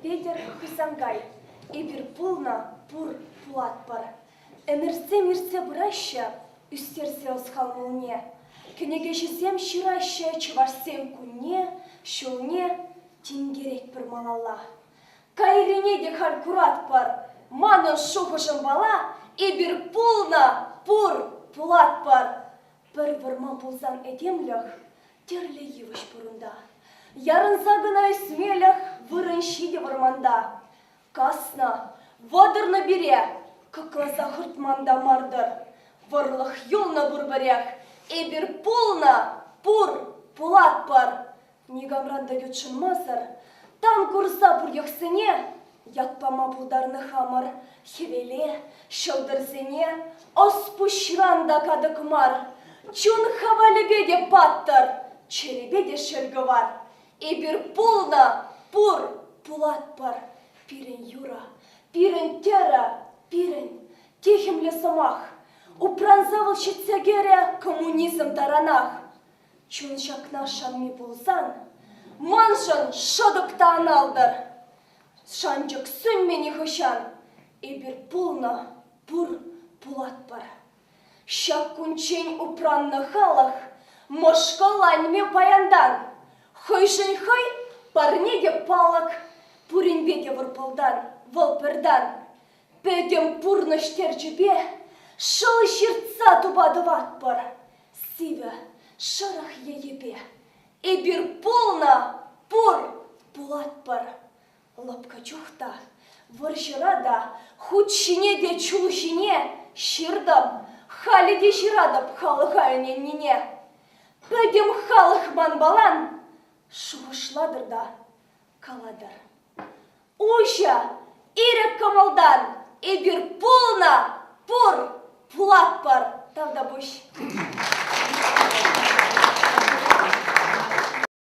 Петӗр Хусанкай, эпир пулнӑ, пур, пулатпӑр. Ӗмӗрсем иртсе пыраҫҫӗ, ӳстерсе ӑсхал мулне. Кӗнекеҫӗсем ҫыраҫҫӗ Чӑвашсен кунне, ҫулне. Тинкерет пӗр малалла. Кайрине те халь куратпӑр. Манӑн шухӑшӑмпала эпир пулнӑ, пур, пулатпӑр. Пӗр вырма пулсан этемлӗх, Тӗрлӗ йывӑҫ пурӑнта. Ярӑнса кӑна ӳсмелӗх вырӑн ҫитӗ вӑрманта. Каснӑ, вӑтӑрнӑ пире, кӑкласа хыртман та мар-тӑр. Вӑрлӑх юлнӑ пурпӗрех, эпир пулнӑ, пур, пулатпӑр. Никамран та ютшӑнмасӑр тан курса пур йӑхсене Ят пама пултарнӑ хамӑр хӗвеле, ҫӑлтӑрсене, ӑс-пуҫран та катӑк мар. Чун хавалӗпе те паттӑр, чӗрепе те шӗлкӗвар. Эпир пулнӑ, пур, пулатпӑр пирӗн юрӑ, пирӗн тӗрӗ, пирӗн техӗмлӗ сӑмах. Упранса вӑл ҫитсе кӗрӗ коммунизм таранах. Чун ҫакна шанми пулсан, маншӑн шӑтӑк та аналтӑр. Шанчӑк сӳнмӗ нихӑҫан, эпир пулнӑ, пур, пулатпӑр. Ҫак кунччен упраннӑ халӑх мӑшкӑлланмӗ паянтан. Хӑйшӗн хӑй, парне те палӑк, пуринпе те вӑрпӑлтан, вӑл пӗртан. Пӗтӗм пурнӑҫ терчӗпе шӑл ҫыртса тупа тӑватпӑр. Сивӗ, шӑрӑх йӗйӗпе эпир пулнӑ, пур, пулатпӑр. Лӑпкӑ чух та, вӑрҫӑра та, хут ҫине те чул ҫине ҫыртӑм, халӗ те ҫыратӑп халӑх ӗненнине. Пӗтӗм халӑх манпалан шухӑшлатӑр та калатӑр. Уҫӑ, ирӗк кӑмӑлтан эпир пулнӑ, пур, пулатпӑр, тавтапуҫ.